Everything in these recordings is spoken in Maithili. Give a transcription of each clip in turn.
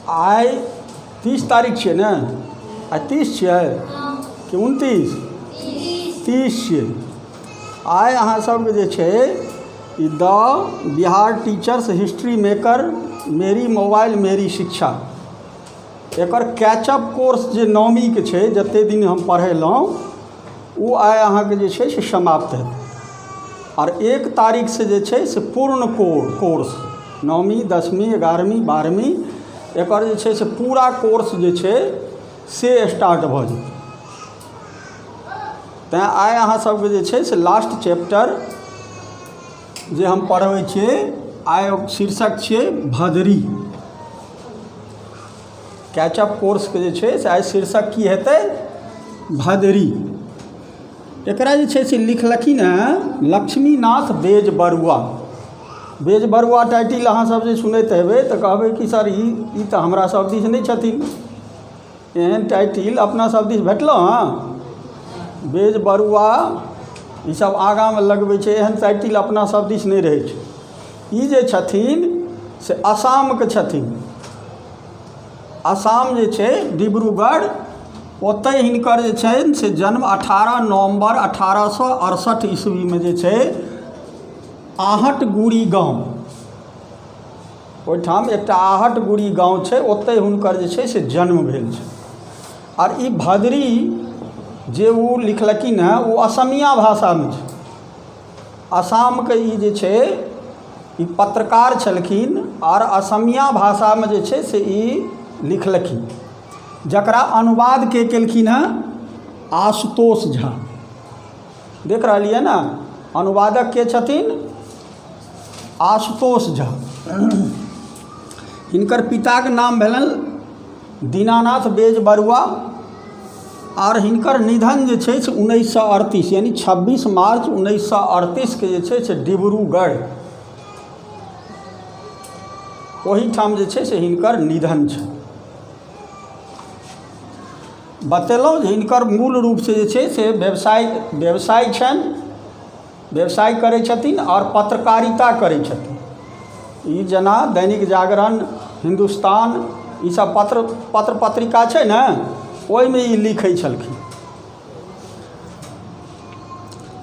आइ तीस तारीख छियै ने आइ तीस छियै कि उनतीस तीस छियै आइ अहाँ सभके जे छै ई the Bihar teachers history maker मेरी मोबाइल मेरी शिक्षा एकर कैचअप कोर्स जे नौमीके छै जतेक दिन हम पढ़ेलहुँ ओ आइ अहाँके जे छै से समाप्त हेतै आओर एक तारीखसँ जे छै से पूर्ण कोर कोर्स नौवीं दसमी एगारहवीं बारहवीं एकर जे छै से पूरा कोर्स जे छै से स्टार्ट भऽ जेतै तैँ आइ अहाँ सभके जे छै से लास्ट चैप्टर जे हम पढ़बै छियै आइ शीर्षक छियै भदरी कैच अप कोर्सके जे छै से आइ शीर्षक की हेतै भदरी एकरा जे छै से लिखलखिन हँ Lakshminath Bezbaroa Bezbaroa title अहाँ सब जे सुनैत हेबै तऽ कहबै कि सर ई ई तऽ हमरा सब दिस नहि छथिन एहन टाइटिल अपना सब दिस भेटलहुँ हँ बेज बरुआ ई सब आगाँमे लगबै छै एहन टाइटिल अपना सब दिस नहि रहै छै ई जे छथिन से आसामके छथिन आसाम जे छै डिब्रूगढ़ ओतहि हिनकर जे छनि से जन्म अठारह नवम्बर अठारह सए अड़सठि ईस्वीमे जे छै आहट गुड़ी गाँव ओहिठाम एकटा आहट गुड़ी गाँव छै ओतहि हुनकर जे छै से जन्म भेल छै आर ई भदरी जे ओ लिखलखिन हेँ ओ असमिया भाषामे छै आसामके ई जे छै ई पत्रकार छलखिन आओर असमिया भाषामे जे छै से ई लिखलखिन जकरा अनुवाद के केलखिन हँ आशुतोष झा देख रहलियै ने अनुवादक के छथिन आशुतोष झा हिनकर पिताके नाम भेलनि दीनानाथ बेजबरुआ आओर हिनकर निधन जे छै से उन्नैस सए अड़तीस यानि छब्बीस मार्च उन्नैस सए अड़तीसके जे छै से डिब्रूगढ़ ओहिठाम जे छै से हिनकर निधन छै बतेलहुँ जे हिनकर मूल रूपसँ जे छै से व्यवसाय व्यवसाय छनि व्यवसाय करै छथिन आओर पत्रकारिता करै छथिन ई जेना दैनिक जागरण हिन्दुस्तान ई सब पत्र पत्र पत्रिका छै ने ओहिमे ई लिखै छलखिन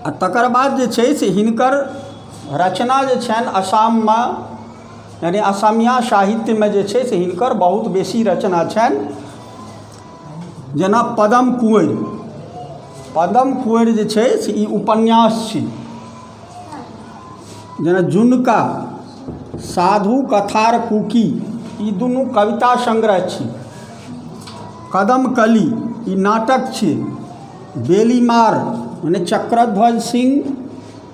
आ तकर बाद जे छै से हिनकर रचना जे छनि आसाममे यानि असमिया साहित्यमे जे छै से हिनकर बहुत बेसी रचना छनि जेना पदम कुँवरि पदम कुँवरि जे छै से ई उपन्यास छी जेना जुनका साधु कथार कुकी ई दुनू कविता संग्रह छी कदम कली ई नाटक छी बेलीमार मने चक्रध्वज सिंह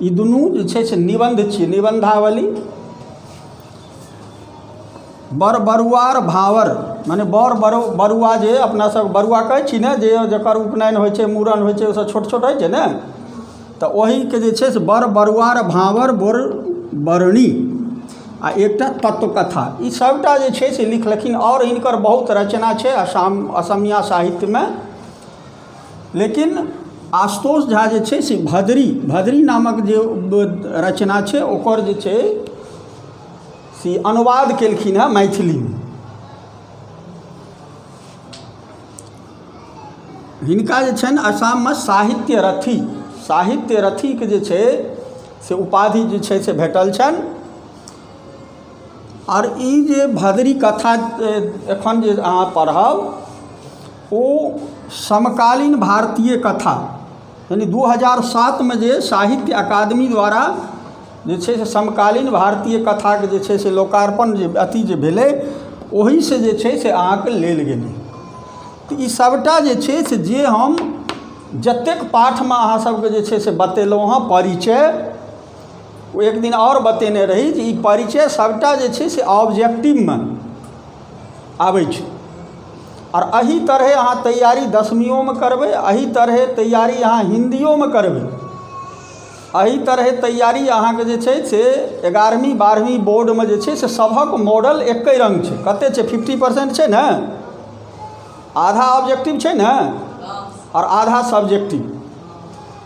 ई दुनू जे छै से निबन्ध छी निबन्धावली बड़ बरुआर भाँवर मने बड़ बरु बरुआ जे अपनासभ बरुआ कहै छी ने जे जकर उपनयन होइ छै मूड़न होइ छै ओसभ छोट छोट होइ छै ने तऽ ओहीके जे छै से बड़ बरुआर भाँवर बड़ बरनी आ एकटा तत्वकथा ई सभटा जे छै से लिखलखिन आओर हिनकर बहुत रचना छै असाम असमिया साहित्यमे लेकिन आशुतोष झा जे छै से भदरी भदरी नामक जे रचना छै ओकर जे छै से अनुवाद केलखिन हँ मैथिलीमे हिनका जे छनि आसाममे साहित्य रथी साहित्य रथीके जे छै से उपाधि जे छै से भेटल छनि आओर ई जे भदरी कथा एखन जे अहाँ पढ़ब ओ समकालीन भारतीय कथा यानि दू हजार सातमे जे साहित्य अकादमी द्वारा जे छै से समकालीन भारतीय कथाके जे छै से लोकार्पण जे अथी जे भेलै ओहिसँ जे छै से अहाँके लेल गेलै तऽ ई सभटा जे छै से जे हम जतेक पाठमे अहाँ सभके जे छै से बतेलहुँ हँ परिचय ओ एक दिन आओर बतेने रही जे ई परिचय सभटा जे छै से ऑब्जेक्टिवमे आबै छै आओर एहि तरहेँ अहाँ तैआरी दसमिओमे करबै एहि तरहेँ तैआरी अहाँ हिन्दिओमे करबै एहि तरहेँ तैआरी अहाँके जे छै से एगारहमी बारहमी बोर्डमे जे छै से सबहक मॉडल एके रङ्ग छै कतेक छै फिफ्टी परसेन्ट छै ने आधा ऑब्जेक्टिव छै ने आओर आधा सब्जेक्टिव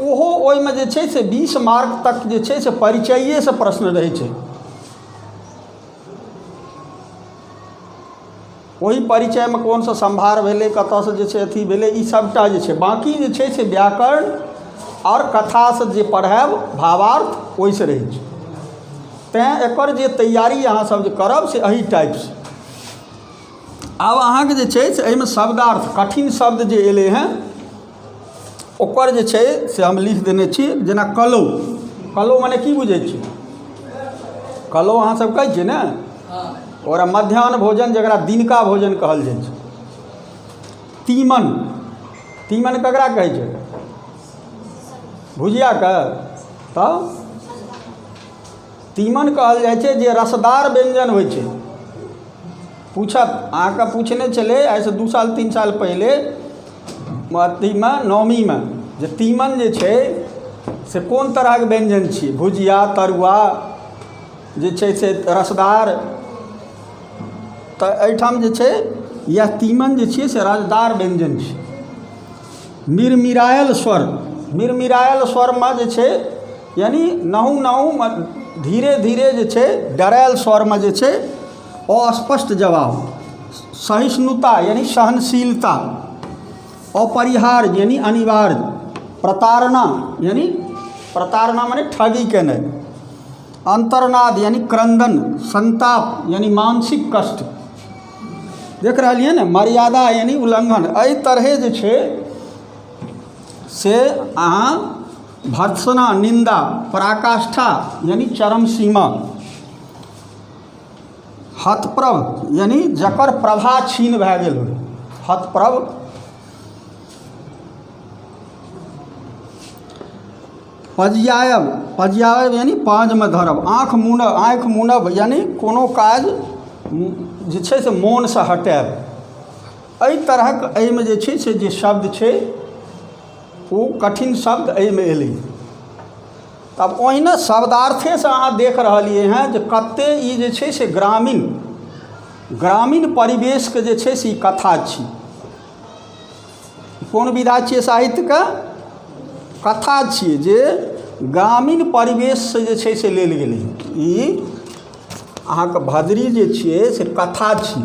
ओहो ओहिमे जे छै से बीस मार्क तक जे छै से परिचैएसँ प्रश्न रहै छै ओहि परिचयमे कोनसँ सम्भार भेलै कतऽसँ जे छै अथी भेलै ई सबटा जे छै बाँकी जे छै से व्याकरण आओर कथासँ जे पढ़ाएब भावार्थ ओहिसँ रहै छै तेँ एकर जे तैआरी अहाँसब जे करब से एहि टाइपसँ आब अहाँके जे छै से एहिमे शब्दार्थ कठिन शब्द जे अएलै हँ ओकर जे छै से हम लिख देने छी जेना कलौ कलौ मने की बुझै छी कलौ अहाँ सब कहै छियै ने ओकरा मध्याह्न भोजन जकरा दिनका भोजन कहल जाइ छै तीमन तीमन ककरा कहै छै भुजियाके तऽ तीमन कहल जाइ छै जे रसदार व्यञ्जन होइ छै पूछत अहाँकेँ पूछने छलै आइसँ दू साल तीन साल पहिले अथीमे नवमीमे जे तीमन जे छै से कोन तरहक व्यञ्जन छी भुजिया तरुआ जे छै से रसदार तऽ एहिठाम जे छै इएह तीमन जे छियै से रसदार व्यञ्जन छी मिरमिरायल स्वर मिरमिरायल स्वरमे जे छै यानि नहु नहुमे धीरे धीरे जे छै डरायल स्वरमे जे छै अस्पष्ट जवाब सहिष्णुता यानी सहनशीलता अपरिहार्य यानी अनिवार्य प्रताड़ना यानी प्रताड़ना माने ठगी केनाइ अंतर्नाद यानी क्रंदन संताप यानी मानसिक कष्ट देख रहलियै ने मर्यादा यानी उल्लंघन एहि तरहे जे छै से अहाँ भर्त्सना निंदा पराकाष्ठा यानी चरम सीमा हतप्रभ यानि जकर प्रभा छीन भए गेल होय हतप्रभ पजियायब पजियायब यानि पाँजमे धरब आँख मुनब आँखि मुनब यानि कोनो काज जे छै से मोनसँ हटायब एहि तरहक एहिमे जे छै से जे शब्द छै ओ कठिन शब्द एहिमे एलै तब ओहिना शब्दार्थेसँ अहाँ देख रहलियै हँ जे कते ई जे छै से ग्रामीण ग्रामीण परिवेशके जे छै से ई कथा छी कोन विधा छियै साहित्यके कथा छियै जे ग्रामीण परिवेशसँ जे छै से लेल गेलै ई अहाँके भदरी जे छियै से कथा छी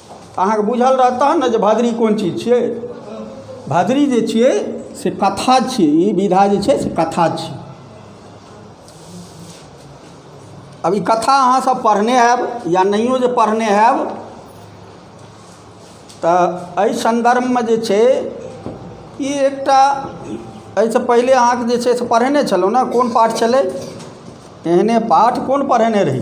तऽ अहाँकेँ बुझल रहत तहन ने जे भदरी कोन चीज छियै भदरी जे छियै से कथा छियै ई विधा जे छै से कथा छियै अब ई कथा अहाँसभ पढ़ने हैब या नहिओ जे पढ़ने हैब तऽ एहि सन्दर्भमे जे छै ई एकटा एहिसँ पहिले अहाँके जे छै से पढ़ेने छलहुँ ने कोन पाठ छलै एहने पाठ कोन पढ़ेने रही